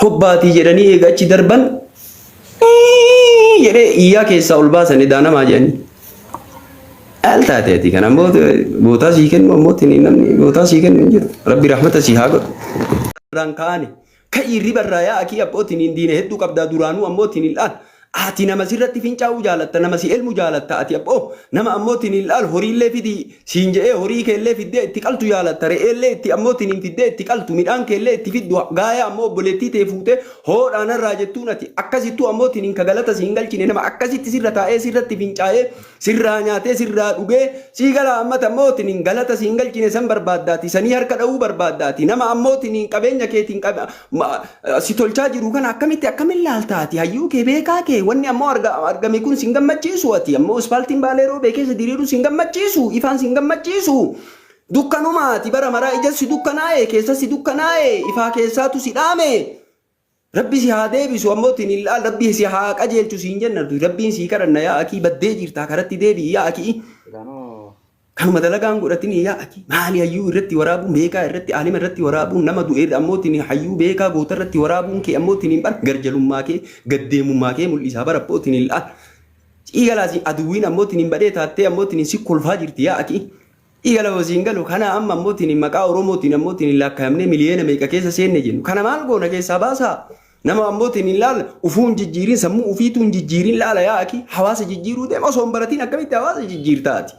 Hobbaatii jedhanii eega achi darban jedhee iyyaa keessaa ol baasan edaa namaa jedhanii. Al taate ati kana ammoo gootaa sii kennu ammoo tini namni gootaa sii kennu hin jiru. Rabbi rahmata sii haa godhu. Irraan kaane. Ka'ii riba irraa yaa akii abbootiin hin diine hedduu qabdaa duraanuu ammoo tini laal. Ati nama sirratti fincaa'uu jaalatta, nama si elmu jaalatta, ati abboo nama ammoo tiniin laal horiillee fidi siin je'ee horii keellee fiddee itti qaltu jaalatta, re'eellee itti ammoo tiniin fiddee itti qaltu, midhaan keellee itti fiddu, gaaya ammoo obboleettii tee fuutee hoodhaa narraa jettuun ati akkasittuu ammoo tiniin ka galata si hin galchine nama akkasitti sirra taa'ee sirratti fincaa'ee Sirraa nyaatee sirraa dhugee sii galaa ammata ammoo tinin galata siin galchine san barbaaddaati sanii harka dhawuu barbaaddaati nama ammoo tinin qabeenya keetiin qab- ma- si tolchaa jiru kana akkamitti akkamin laalta ati hayyuu kee beekaa kee wanni ammoo arga- argame kun sin gammachiisu ati ammoo ispaaltiin baalee roobee keessa diriiru sin gammachiisu ifaan sin gammachiisu dukkanuma ati bara maraa ijassi dukkanaa'e keessassi dukkanaa'e ifaa keessaatu si dhaame Rabbi si haa deebisu ammoo tinil'aan rabbi si haa qajeelchu siin jenna nuti rabbiin sii kadhanna yaa akii baddee jirtaa karatti deebi'i yaa akii kanuma dalagaan godhatini yaa akii maali hayyuu irratti waraabuun beekaa irratti aalima irratti waraabuun nama du'e irra ammoo tini hayyuu beekaa goota irratti waraabuun kee ammoo tiniin bar garjalummaa kee gaddeemummaa kee mul'isaa bara abboo tinil'aan ciigalaasi aduwwiin ammoo tiniin badhee taattee ammoo tiniin si kolfaa jirti yaa akii Dhiiga lama siin galu kana amma ammoo tini maqaa Oromootiin ammoo tini laakkaayamnee miliyoona meeqa keessa seenne jennu. Kana maal goona keessaa baasaa? Nama ammoo tini laala ufuu hin jijjiirin sammuu ufiituu hin jijjiirin laala yaa akii hawaasa jijjiiruu deema osoo hin baratiin akkamitti hawaasa jijjiirta ati?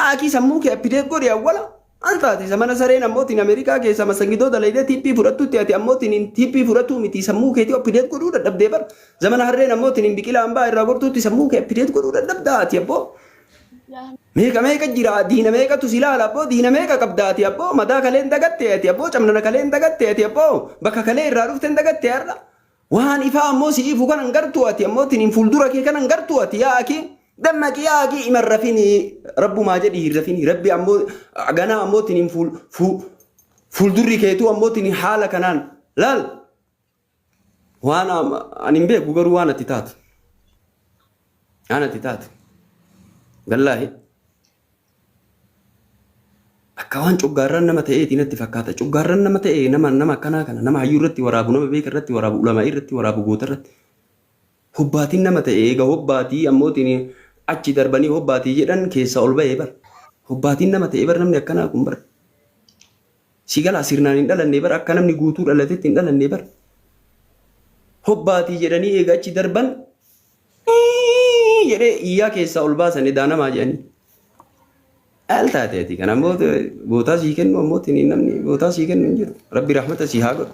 Akii sammuu kee appideet godhi awwala. Maal taate isa mana sareen ammoo tini Ameerikaa keessa masangidoo dalaydee tiippii fudhattutti ati ammoo tini tiippii fudhatuu miti sammuu keetii appideet godhuu dadhabdee bar. Zamana harreen ammoo tini biqilaa hambaa irraa gortuutti sammuu kee appideet godhuu dadhabdaa ati abboo. Meeqa meeqa jira diina meeqatu si laala abboo diina meeqa qabda ati abboo madaa kalee hin dagatte ati abboo camnana kalee hin dagatte ati abboo bakka kalee irraa dhufte hin dagatte har'a waan ifaa ammoo si ifu kana hin gartu ati ammoo tiniin fuuldura kee kana hin gartu ati yaa akii dammaqi yaa akii ima hin rafini rabbumaa jedhi hin rafini rabbi ammoo ganaa ammoo tiniin fuul fuul fuuldurri keetuu ammoo tiniin haala kanaan laal Waan am- ani hin beeku garuu waan ati taatu. Waan ati taatu. Wallaahi. Akka waan coggaarraan nama ta'eeti natti fakkaata. Coggaarraan nama ta'e nama nama akkanaa kana nama hayyuu irratti waraabu nama beeka irratti waraabu ulamaa irratti waraabu goota irratti. Hobbaatiin nama ta'e eega hobbaatii ammootiin achi darbanii hobbaatii jedhan keessa ol ba'ee bar. Hobbaatiin nama ta'e bar namni akkanaa kun bar. Si galaa sirnaan hin dhalanne bar akka namni guutuu dhalatetti hin dhalanne bar. Hobbaatii jedhanii eega achi darban "Ii" jedhee iyyaa keessaa ol baasan edaa namaa jedhanii. Al taate ati kan ammoo bootaa sii kennu ammoo tini namni bootaa sii kennu hin jiru. Rabbi rahmata sii haa godhu.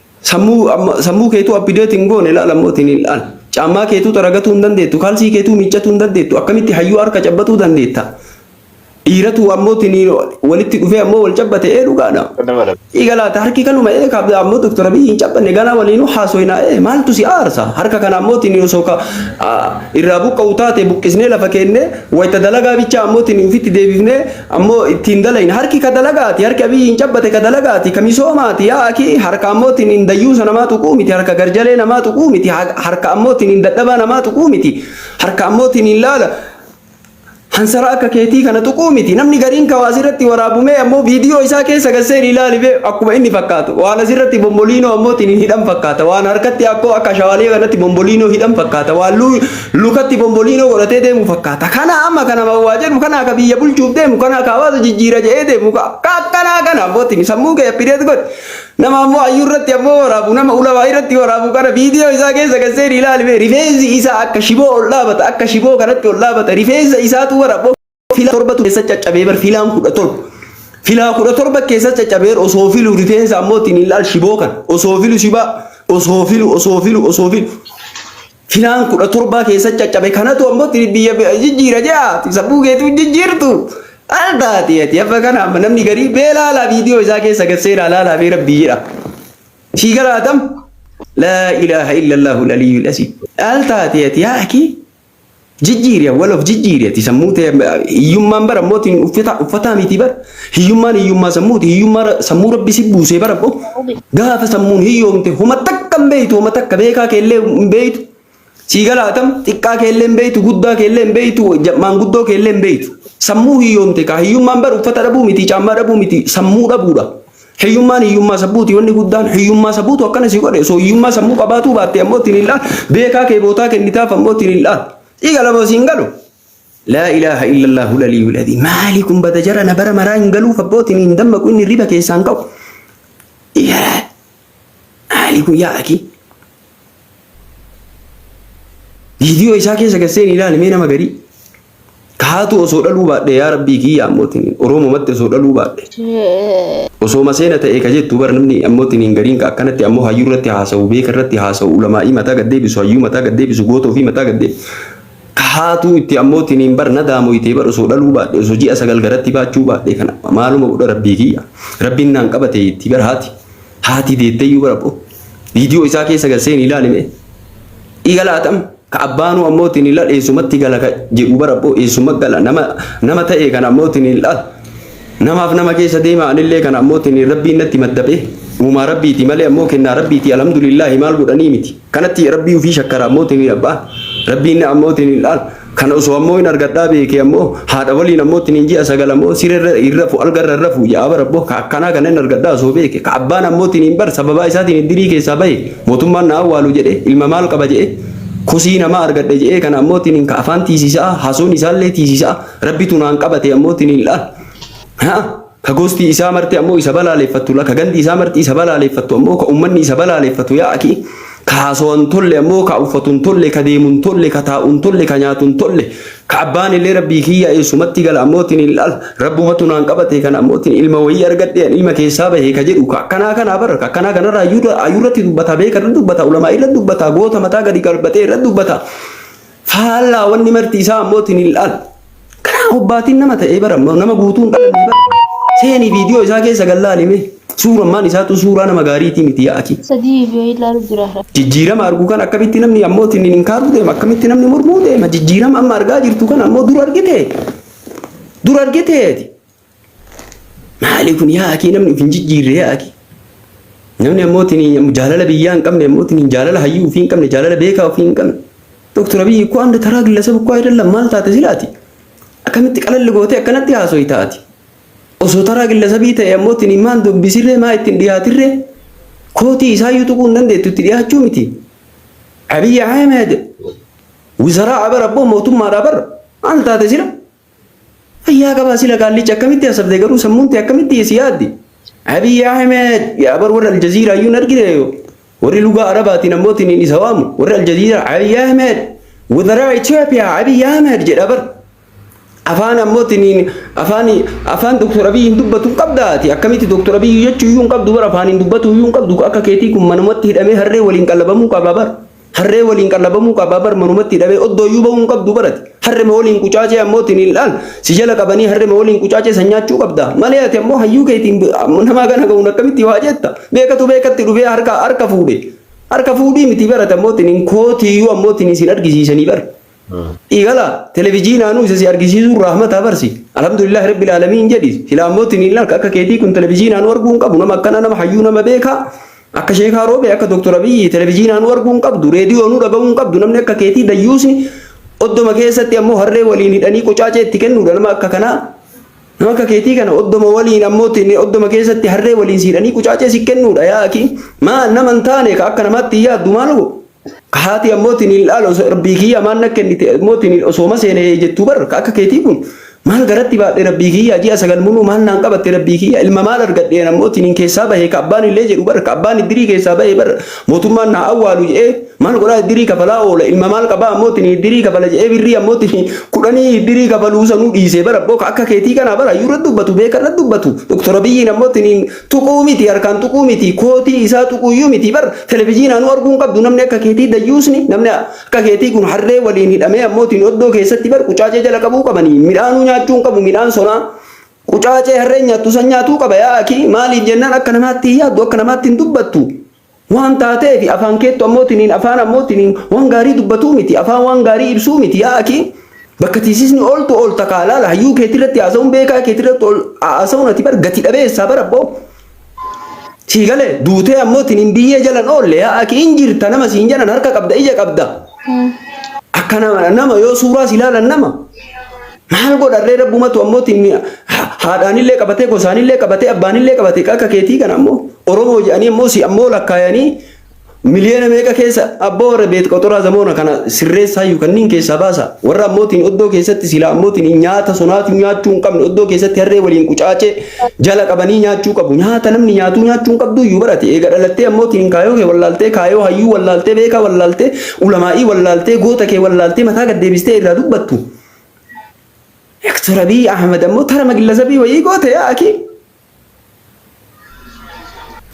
Sammuu amma sammuu keetuu update hin goone ilaala immoo ittiin hin dhaal. Caammaa keetuu xaragatuu hin dandeettu, kaalsii keetuu miiccatuu hin dandeettu, akkamitti hayyuu harka cabbatuu dandeetta? Dhiiratu ammoo ittiin walitti dhufee ammoo wal cabbate ee dhugaadha. Dhiiga laata harki kanuma ee kaabda ammoo Dr. Abiyyi hin cabbanne ganaa waliinuu haasoyna ee maaltu si aarsa? Harka kana ammoo ittiin osoo ka irraa buqqa'u taate buqqisnee lafa keennee wayita dalagaa bichaa ammoo ittiin ofitti deebifnee Ammo itti hin dalayne. Harki ka dalagaati, harki Abiyyiin cabbate ka dalagaati, ka misoomaati. Yaa akii harka ammoo tiniin dayyuusa namaa tuquu miti, harka garjalee namaa tuquu miti, harka ammoo tiniin dadhabaa namaa tuquu miti, harka ammoo tiniin laala hansara akka keetii kana tuquu miti. Namni gariin ka waa asirratti waraabu mee ammoo viidiyoo isaa keessa gad seeni ilaali bee akkuma inni fakkaatu. Waan asirratti bomboliinoo ammoo tiniin hidhan fakkaata. Waan harkatti akkoo akka ashawaalee kanatti bomboliinoo hidhan fakkaata. Waan Lukatti bomboliinoo godhatee deemu fakkaata. Kana amma kana waa jedhu kana akka biyya bulchuuf deemu kana akka hawaasa jijjiira jedhee deemu ka ka akkanaa kana abbootiin sammuu kee appideet godhi. Nama ammoo hayyuu irratti ammoo waraabu nama ulamaa irratti waraabu kana viidiyoo isaa keessa kan seeni ilaali mee rifeensi isaa akka shiboo ol dhaabata akka shiboo kanatti ol dhaabata rifeensa isaatu waraboo filaa torba ture keessa caccabee bar filaan kudha torba. Filaa kudha torba keessa caccabee osoo filu rifeensa ammoo ittiin hin laal shiboo kan osoo filu shibaa osoo filu osoo filu osoo filu. Filaan kudha torbaa keessa caccabe kanatu ammoo ittiin biyya biyya jijjiira jaa sabbuu keetu jijjiirtu. Al taati ati amma kana amma namni garii beelaalaa viidiyoo isaa keessa gad seenaa laalaa mee rabbii jedha. Sii galaatam. Laa ilaaha illallahu aliyyul asii. Al taati ati yaa akii. Jijjiiri wal of jijjiiri ati sammuu tee hiyyummaan bara mooti uffata uffataa miti bara hiyyummaan hiyyummaa sammuuti hiyyummaa ra- sammuu rabbi si buusee bara bo gaafa sammuun hiyyoomte homa takka hin beeytu homa takka beekaa keellee hin beeytu sii galaatam xiqqaa keellee hin beeytu guddaa keellee hin beeytu ja- maanguddoo keellee hin beeytu sammuu hiyyoomte kaa hiyyummaan bara uffata dhabuu miti caammaa dhabuu miti sammuu dhabuudha. Hiyyummaan hiyyummaa sabbuuti wanni guddaan hiyyummaa sabbuutu akkana si godhe osoo hiyyummaa sammuu qabaatuu baatte ammoo ittiin il'aa beekaa kee bootaa kennitaaf ammoo ittiin il'aa dhiiga lama siin galu. Laa ilaaha illallah hulalii wiladii maali kun bada jara na bara maraa hin galuuf abbootiin hin dammaqu inni riba keessaan ka'u. Iyaraa maali kun yaa akii. Viidiyoo isaa keessa gasseen ilaalimee nama garii. Taatu osoo dhaluu baadhe yaa rabbii kiyya ammootiin Oroomumatti osoo dhaluu baadhe. Osoo maseena ta'e ka jettu bara namni ammootiin hin gariin ka akkanatti ammoo hayyuu irratti haasa'u beeka irratti haasa'u ulamaa'ii mataa gad deebisu hayyuu mataa gad deebisu goota ofii mataa gad deebisu. Ka haatuu itti ammootiin hin bar na daamoyte bar osoo dhaluu baadhe osoo ji'a sagal garatti baachuu baadhe kana maaluma godha rabbii kiyya rabbiin naan qabate itti bar haati haati deetteyyuu bara boo viidiyoo isaa keessa gad seeni ilaalime. Igala atam. Ka abbaanuu ammoo tiniilal eessumatti gala ka jedhu bara abboo eessumma gala nama nama ta'e kana ammoo tiniilal namaaf nama keessa deema anillee kana ammoo tiniin rabbiin natti maddabe uumaa rabbiiti malee ammoo kennaa rabbiiti alhamdulillaahi maal godhanii miti kanatti rabbii ufii shakkara ammoo tiniin abbaa rabbiin ammoo tiniilal kana osoo ammoo hin argadhaa beekee ammoo haadha waliin ammoo tiniin ji'a sagal ammoo sirerra hin rafu algarra hin rafu ja'a bara abboo ka akkanaa kana hin argadhaa osoo beeke ka abbaan ammoo tiniin bar sababaa isaatiin iddirii keessaa bahe Mootummaan na awwaalu jedhe ilma maal qaba je'e kosii namaa argadhe je'ee kana ammoo tiniin ka afaan tiisisa'a hasoon isaallee tiisisa'a rabbitu naan qabate ammoo tiniin la, ha ka gosti isaa marti ammoo isa balaaleeffattu la ka gandi isaa marti isa balaaleeffattu ammoo ka ummanni isa balaaleeffatu yaa akii ka haasowan tolle ammoo ka uffatu hin tolle ka deemu hin tolle ka taa'u hin tolle ka nyaatu hin tolle Ka abbaan illee rabbii kiyya eessumatti gala ammootiin hin laal rabbumatu naan qabate kan ammootiin ilma wayii argadhe an ilma keessaa bahe ka jedhu ka akkanaa kanaa bara ka akkanaa kanarraa ayyuurra ayyuurratti dubbata beeka irra dubbata ulamaa irra dubbata goota mataa gadi qalbatee irra dubbata faallaa wanni marti isaa ammootiin hin laal karaa hobbaatiin nama ta'ee bara nama guutuun dhalanne bara seenii viidiyoo isaa keessa gallaalime. Suurammaan isaatu suuraa nama gaariitii miti yaa akii. Sadii viidiyoo ilaalu jira har'a. Jijjiirama argu kan akkamitti namni ammoo ittiin hin kaaruu deema akkamitti namni mormuu deema jijjiirama amma argaa jirtu kan ammoo dur argite dur argite ati maali kun yaa akii namni of hin jijjiirre yaa akii namni ammoo ittiin jaalala biyyaa hin qabne ammoo ittiin jaalala hayyuu ofii hin qabne jaalala beekaa ofii hin qabne doktor abiyyi koo anda taraa gillasaba koo ayidallam maal taate silaati akkamitti qalalli gootee akkanatti haasooyi taati. Osoo taraa gillasabii ta'e ammoo tini maan dubbisirree maa ittiin dhiyaatirree kootii isaayyuu tuquu hin dandeettu itti dhiyaachuu miti. Abiy Ahmed wizaraa abar abboo mootummaadha abar maal taate sila? Fayyaa qabaa sila gaallicha akkamitti hasabde garuu sammuun tee akkamitti si yaaddi? Abiy Ahmed yaa abar warra Aljaziiraa iyyuu hin argine Warri lugaa Arabaatiin ammoo tiniin isa waamu, warri Aljaziiraa Abiy Ahmed, Wuzaraa Ethiopia Abiy Ahmed jedha bar. Afaan ammoo tiniin afaan afaan Dr. Abiy hin dubbatu hin qabda ati akkamitti Dr. Abiy jechuu iyyuu hin qabdu bar afaan hin dubbatu iyyuu hin qabdu akka keetii kun manumatti hidhamee harree waliin qallabamuu qaba bar. Harree waliin qallabamuu qaba bar manumatti hidhamee oddoo iyyuu bahuu hin qabdu bar ati. Harrema waliin qucaacee ammoo tiniildhaan si jala qabanii harrema waliin qucaacee san nyaachuu qabda. Malee ati ammoo hayyuu keetiin namaa gana ga'uun akkamitti waa jetta? Beekatu beekatti dhufee harka harka fuudhe. Harka fuudhii miti barate ammoo tiniin kootiyyuu ammoo tiniin sin argisiisanii bar. Dhiigala televijiinaanuu isa si argisiisuun rahmata barsi. Alhamdulillah rabbil aalamiin jedhi. Silaa ammoo tiniin akka keetii kun televijiinaanuu arguu hin qabu nama akkana nama hayyuu nama beekaa. Akka sheekaa roobee akka Dr. Abiyyi televijiinaa nu arguu hin qabdu, reediyoo nu dhaga'uu hin qabdu, namni akka keetii dayyuusni oddoma keessatti ammoo harree waliin hidhanii qucaacee itti kennuudha nama akka kanaa. Nama akka keetii kana oddoma waliin ammoo oddoma keessatti harree waliin si hidhanii qucaacee si kennuudha yaa akii. Maal nama hin taane ka akka namaatti hin yaaddu maal hoo? Haati ammoo tiniin laal osoo rabbii kiyya maal na kennite ammoo tiniin osooma seene jettuu bar ka akka keetii kun maal garatti baadhe rabbii kiyya ji'a sagal muluu maal naan qabatte rabbii kiyya ilma maal argadheen ammoo tiniin keessaa bahe ka abbaan illee jedhu bar ka abbaan iddirii keessaa bahe bar mootummaan naa awwaalu jedhee maal godhaa iddirii kafalaa oola ilma maal qabaa ammoo tiniin iddirii kafala jedhee birrii ammoo tiniin kudhanii iddirii kafaluu sanuu dhiisee bar abboo ka akka keetii kanaa bar hayyuurra dubbatu beekarra dubbatu doktora biyyiin ammoo tiniin Tuquu miti harkaan tuquu miti kootii isaa tuquuyyuu miti bar televijiinaanuu arguu hin qabdu namni akka keetii dayyuusni namni akka keetii kun harree waliin hidhamee ammootiin oddoo keessatti bar qucaacee jala qabuu qabanii midhaanuu nyaachuu hin qabu midhaan sonaa qucaacee harreen nyaattu san nyaatuu qaba yaa akii maaliif jennaan akka namaatti hin yaaddu akka namaatti hin dubbattu Waan taateefi afaan keettu ammoo tiniin afaan ammoo tiniin waan gaarii dubbatuu miti, afaan waan gaarii ibsuu miti, yaa akii bakka tiisisni ooltu oolta kaa laala hayyuu keetirratti haasawuun beekaa keetirratti ol haasawuun ati bar gati dhabeessaa bar abboo. Sii galee duutee ammoo tiniin biyyee jalan oolle yaa akii hin jirta nama siin janan harka qabda ija qabda. Akka nama nama yoo suuraa si laalan nama. Maal godharree rabbumatu ammoo timmi haadhaanillee qabatee gosaanillee qabatee abbaanillee qabatee akka keetii kana ammoo Oromoo jedhanii ammoo si ammoo lakkaayanii miliyoona meeqa keessa abboo warra beet qoxoraa zamoona kana sirreessaa iyyuu kanneen keessaa baasa warra ammootiin oddoo keessatti sila ammootiin nyaata sonaatuu nyaachuu hin qabne oddoo keessatti harree waliin qucaacee jala qabanii nyaachuu qabu nyaata namni nyaatuu nyaachuu hin qabdu iyyuu barate eega dhalattee ammootiin kaayoo kee wallaaltee kaayoo hayyuu wallaaltee beekaa wallaaltee ulamaa'ii wallaaltee goota kee wallaaltee mataa gad deebistee irraa dubbattu. Doktar Abiy Ahmed ammoo tarama gillasabii wayii goote yaa akii.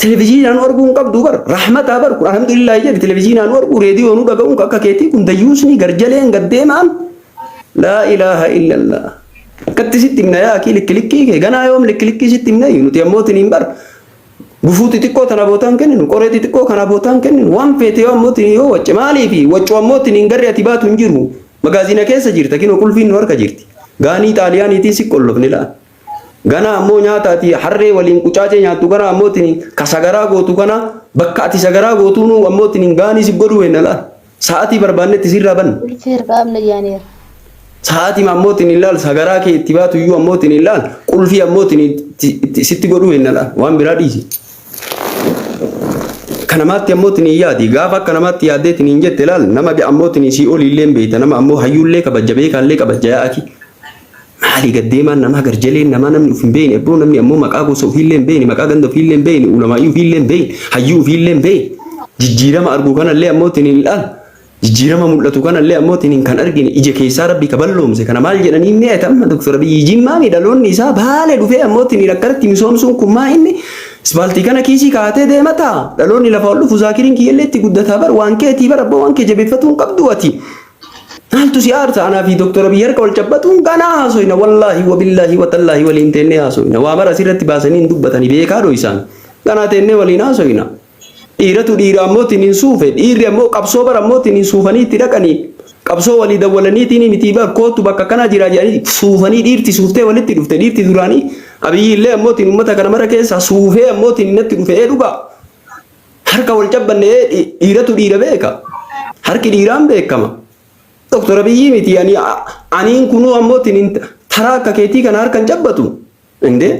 Televiziinaan arguu hin qabdu bar rahmataa bar kun alhamdulillah jedhi televiziinaan arguu reediyoo nu dhaga'uun akka keetii kun dayyuusni garjaleen gaddeemaan laa ilaaha illallah. Akkatti sitti himna yaa akii likki likkii kee ganaa yoom likki likkii sitti himna nuti ammoo tiniin bar Gufuu xixiqqoo tana bootaan kenninu, qoree xixiqqoo kana bootaan kenninu, waan feete yoo ammoo tini yoo wacce maaliifi waccu ammoo tiniin garri ati baatu hin jiru. Magaaziina keessa jirta kinoo qulfiin nu harka jirti. Gaanii xaaliyaaniitiin si qollofne laal. Ganaa ammoo nyaata ati harree waliin qucaacee nyaattu kana ammoo tiniin ka sagaraa gootu kana bakka ati sagaraa gootuunuu ammoo tiniin gaanii si godhuu henna laal. Sa'aatii barbaannetti sirraa banna. Ulfii hir'aa amna yaaneera. Sa'aatii ammoo ittiin hin laallu sagaraa kee itti baatu iyyuu ammoo ittiin hin laallu qulfii ammoo ittiin itti- itti- sitti godhuu hin laala waan biraa dhiisi. Akka namaatti ammoo ittiin hin yaadi gaafa akka namaatti yaaddee ittiin hin jette laal nama ammoo ittiin sii olii illee hin beekta nama ammoo hayyuu illee kabajja beekaa illee kabajja yaa akii. Maali gad deemaan namaa garjaleen namaa namni uf hin beeyne abboo namni ammoo maqaa gosa ufiillee hin beeyne maqaa ganda ufiillee hin beeyne ulamaa'ii ufiillee hin beeyne hayyuu ufiillee hin beeyne jijjiirama argu kanallee ammoo tin hin ilaalu jijjiirama mul'atu kanallee ammoo tin hin kan argine ija keessaa rabbi ka balloomse kana maal jedhanii inni ati amma doktor abiyyi jimmaami dhaloonni isaa baale dhufee ammoo tin hin akkanatti misoomsuun kun maa inni Isbaaltii kana kiisii kaatee deemata. Dhaloonni lafa ol dhufu zaakiriin kiyyallee itti guddataa bar waan keetii bar abboo waan kee jabeeffatuun qabdu ati. Maaltu si aarsa anaa fi Dooktar Abiy harka wal cabbatuun ganaa haasoyna wallaahi wabillaahi watallaahi waliin teennee haasoyna waa mara asirratti baasanii hin dubbatani beekaa dhoysaan ganaa teennee waliin haasoyna dhiiratu dhiira ammoo tiniin suufe dhiirri ammoo qabsoo bara ammoo tiniin suufanii itti dhaqanii qabsoo walii dawwalaniitiin mitii bar kootu bakka kanaa jiraa jedhanii suufanii dhiirti suuftee walitti dhufte dhiirti duraanii Abiy illee ammoo tiin uummata kana mara keessaa suufee ammoo tiin natti dhufee dhugaa Harka wal cabbanne ee dhi- dhiiratu dhiira beeka. Harki dhiiraan beekama. Doktor Abiyyii miti ani aniin kunuu ammoo tinin taraa akka keetii kana harka hin cabbatu. Indee.